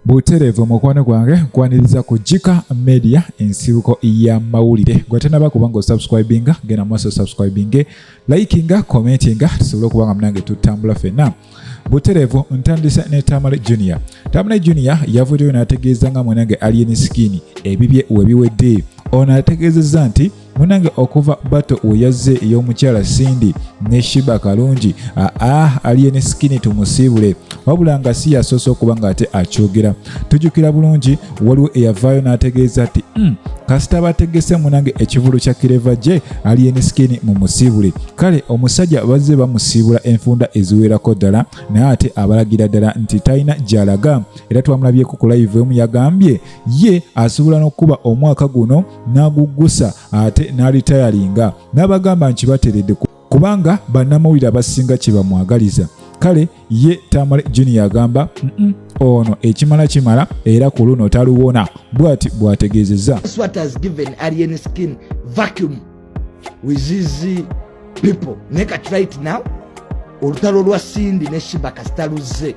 butereevu mukwano gwange nkwaniriza ku jika media ensibuko ya mawulire gwatenaba kuba nga osubscribinga genda maaso subscribinge likinga commentinga tusobole okuba nga munange tutambula fenna butereevu ntandise ne tamale junior tamale junior yavuddeyo n'ategeeza nga mwanange alien skin ebibye webiwedde ono ategeezezza nti munange okuva bato weyazze ey'omukyala cindy ne shiba kalungi aa aliye ne sikini tumusiibule wabula nga si yasoose okuba ng'ate akyogera tujjukira bulungi waliwo eyavaayo n'ategeeza nti hmm, kasita bategese munange ekivulu kya kireva gye aliye ne sikini mu musiibule kale omusajja bazze bamusiibula enfunda eziwerako ddala naye ate abalagira ddala nti talina gy'alaga era twamulabyeko ku live emu yagambye ye asobola n'okukuba omwaka guno n'aguggusa ate n'alitayalinga n'abagamba nti bateredde kubanga bannamawulire abasinga kye bamwagaliza kale ye tamale junior agamba ono ekimala kimala era ku luno taluwona bwati bw'ategeezezza olutalo lwa sindi ne shiba kasita luzze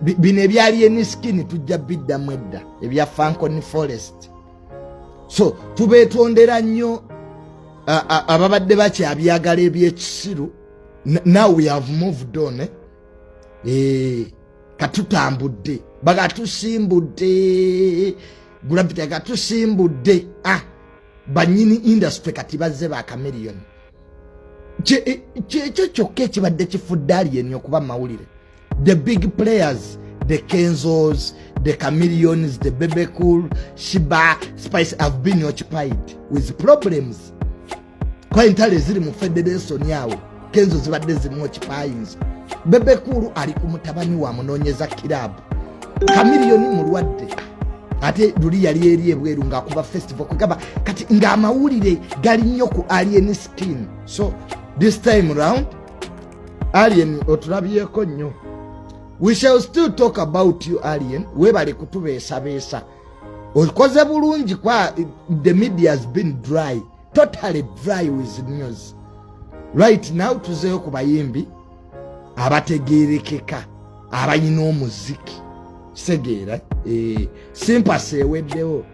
bino ebyali eniskin tujja biddamu edda ebya fancon forest so tubetondera nnyo ababadde bakyabyagala ebyekisiru now we have moved on eh? Eh, katutambudde bagatusimbudde gravity agatusimbudde ah, banyini industry kati bazze bakameriyoni eh, kyekyo kyokka ekibadde kifudde aliyeni okuba mawulire the big players the kenzos the chameleons the bebe cool shiba spice have been occupied with problems kwa entale ziri mu federation yawo kenzo zibadde zimu occupies bebe cool ali ku mutabani wa munonyeza kirabu chameleon mulwadde ate luli yali eri ebweru ngaakuba festival kwegamba kati ng'amawulire gali nnyo ku alien skin so this time round Alien otulabyeko nnyo. We shall still talk about you Alien, webale kutubeesabeesa. Okoze bulungi kwa the media has been dry, totally dry with news. Right now tuzeyo ku bayimbi abategeerekeka abalina omuziki. Kitegeera eh, simpasi eweddewo.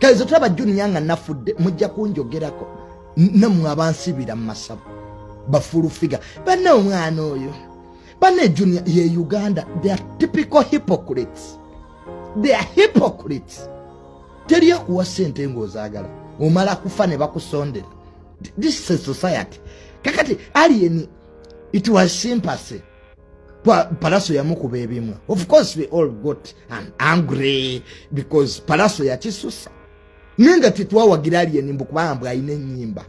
kale ze tulaba juniya nga nafudde mujja kunjogerako namwe abansibira mu masabo bafulu figa banne omwana oyo banne juniya ye uganda they are typical hypocrites they are hypocrites teri akuwa sente ngaozaagala omala kufa ne bakusondera this is society kakati alien it was sympathy palaso yamukuba ebimu of course we all got an angry because palaso yakisusa naye nga tetwawagira alien mbu kubanga mbu alina enyimba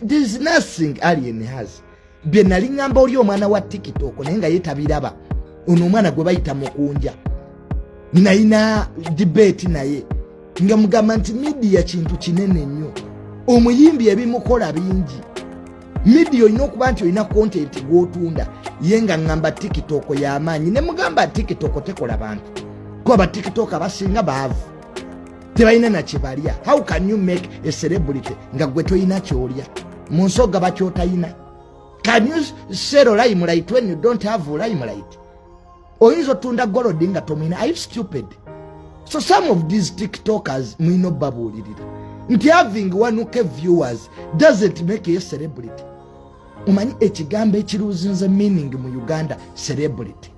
there's nothing alien has bye nali ngamba oli omwana wa tiktok naye nga yetabiraba ono omwana gwe bayita mukunja nayina debate naye nga mugamba nti midiya kintu kinene nnyo omuyimbi ebimukola bingi midiya olina okuba nti olina kontenti gwotunda ye nga ŋŋamba tikitoko y'amaanyi ne mugamba tikitoko tekola bantu kuba batikitoko abasinga baavu tebalina nakibalya how can you make a celebrity nga gwe tolina kyolya mu nsi ogaba kyotayina can you sero limelight when you don't have limelight oyinza otunda golodi nga tomwina are you stupid so some of these tiktokers mwina obabuulirira nti having onek viewers doesn't make ye celebrity omanyi ekigambo ekiruuzinze meaning mu uganda celebrity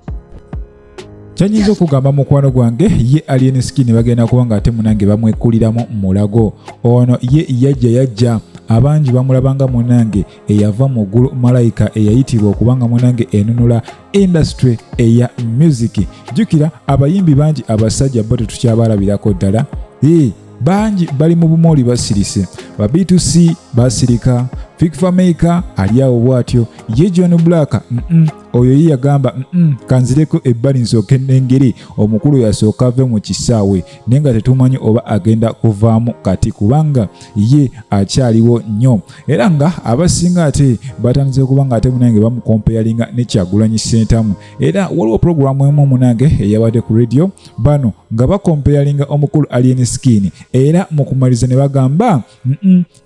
kyanyinza okugamba mukwano gwange ye alien skin bagenda kuba nga ate munange bamwekuliramu mulago ono ye yajja yajja abangi bamulabanga munange eyava mu ggulu malayika eyayitibwa okuba nga munange enunula industry eya music jjukira abayimbi bangi abasajja bo tetukyabalabirako ddala ee bangi bali mu bumooli basirise ba b2c basirika fikfamaika ali awo bwatyo ye john black mm -mm. oyo ye yagamba mm kanzireko ebbali nsooke nengeri omukulu yasooka ave mu kisaawe naye nga tetumanyi oba agenda kuvaamu kati kubanga ye akyaliwo nnyo era nga abasinga ate batandise kuba nga ate munange bamukompeyalinga ne kyagulanyi sentamu era waliwo pulogulaamu emu munange eyabadde ku radio bano nga bakompeyalinga omukulu alien skin era mu kumaliza ne bagamba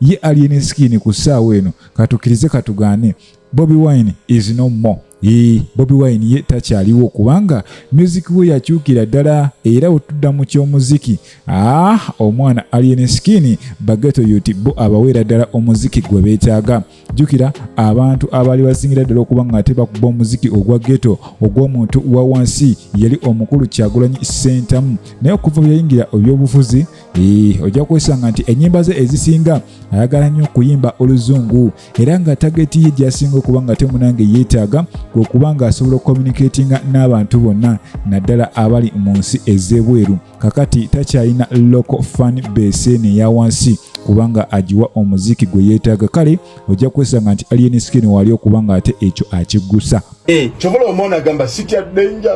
ye alien skin ku ssaawa eno katukirize katugaane Bobby Wine is no more. Ee, Bobby Wine ye takyaliwo kubanga music we yakyukira ddala era otudda mu ky'omuziki. Ah, omwana Alien Skin bageto yuti bo abaweera ddala omuziki gwe beetaaga. Jjukira abantu abaali basingira ddala okuba nga ate bakuba omuziki ogwa geto ogw'omuntu wa wansi yali omukulu Kyagulanyi Ssentamu. Naye okuva bwe yayingira ebyobufuzi, ee, ojja kwesanga nti ennyimba ze ezisinga ayagala nnyo okuyimba oluzungu. era nga tageti ye gyasinga okuba nga temunange yeetaaga kwekuba nga asobola okukomunikatinga n'abantu bonna naddala abali mu nsi ez'ebweru kakati takyalina local fan base eno eya wansi kubanga agiwa omuziki gwe yeetaaga kale ojja kwesanga nti alien skin waali okuba nga ate ekyo akiggusa eh. kyobola omwana agamba sitya denja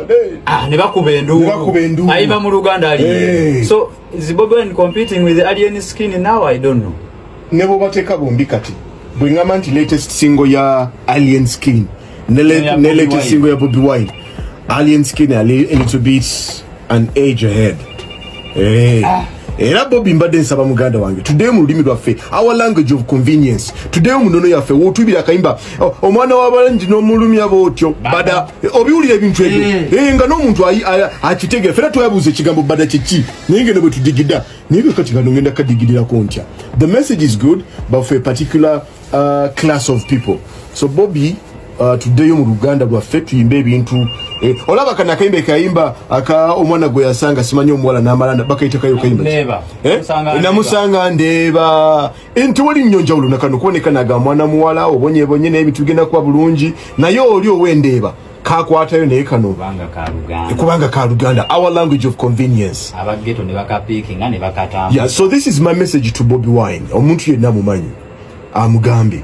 ah, ne bakuba enduulu ayiba mu luganda ali eh. so is bobi wine competing with alien skin now i don't know ne bwobateeka bombi kati bwe ngamba nti latest single ya alien skin ne latest single ya bobi wine alien skin a little bit an age ahead hey. Eh. ah. era bobi mbadde nsaba muganda wange tuddeyo mu lulimi lwaffe our language of convenience tuddeyo mu nnono yaffe wotubira akayimba oh, omwana wabalangi n'omulumya bootyo bada eh, obiwulira ebintu ebyo eh. nga n'omuntu akitegeera fena twebuuza ekigambo bada kyeki naye ngeno bwe tudigida naye ke kati kano ngenda kadigirirako ntya the message is good but for a particular uh, class of people so bobi uh, tuddeyo mu luganda lwaffe tuyimbe ebintu eh, olaba kana akayimba ekayimba aka omwana gwe yasanga simanyi omuwala namalanda bakayitakayo kayimba eh? namusanga ndeeba eh, nti wali nnyo njawulo nakano kuboneka naga mwana muwala obonyebonye naye bitugenda kuba bulungi naye oli owendeeba kakwatayo naye kano kubanga ka luganda our language of convenience yeah, so this is my message to bobi wine omuntu yenna mumanyi amugambye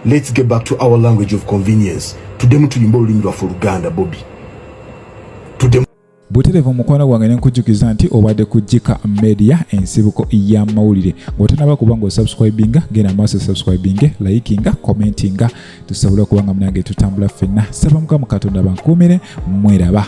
let's get back to our language of convenience tudemu tuyimba olulimi lwaffe oluganda bobi buterevu mukwano gwange nenkujjukiza nti obadde ku jika media ensibuko y'amawulire ng'otanaba kuba nga osubscribinga genda maaso subscribinge likinga commentinga tusobola okuba nga munange tutambula ffenna saba mukamu katonda bankuumire mweraba